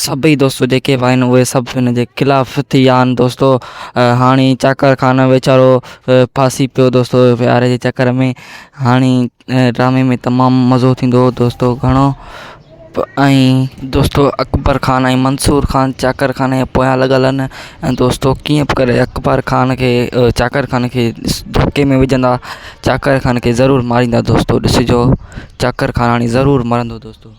سڀئي دوستو جيڪي به آهن اهي سڀ هن جي خلاف ٿي ويا آهن دوستو هاڻي چاڪر خان ويچارو ڦاسي پيو دوستو ايف آء آر جي چڪر ۾ هاڻي ڊرامي ۾ تمام مزو ٿيندو دوستو گهڻو ۽ دوستو اڪبر خان ۽ منصور خان چاڪر خان جي پويان لڳل آهن ۽ دوستو ڪيئن به ڪري اڪبر خان کي چاڪر خان کي ڌڪي ۾ وجهندا چاڪر خان کي ضرور ماريندا دوستو ڏسجو چاڪر خان هاڻي ضرور مرندو دوستو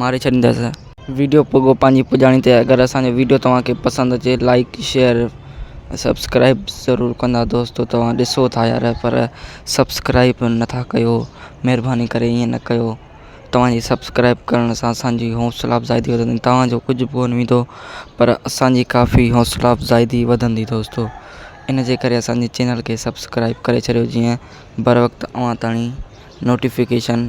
ماري ڇڏيندس. ويڊيو پڳو پنهنجي پڄاڻي تي اگر اسان جو ويڊيو توهان کي پسند اچي لائيڪ شيئر ۽ سبسڪرائيب ضرور ڪندا دوستو توهان ڏسو ٿا يار پر سبسڪرائيب نٿا ڪيو مھرباني ڪري ائين نه ڪيو توهان جي سبسڪرائيب ڪرڻ سان اسان جي حوصلا افزائي ٿي وڌندي توهان جو ڪجھ به ڪونه ويندو پر اسان جي ڪافي حوصلا افزائي ٿي وڌندي دوستو ان جي ڪري اسان جي چينل کي سبسڪرائيب ڪري ڇڏيو جيئن بر وقت اوهان تائين نوٽيفڪيشن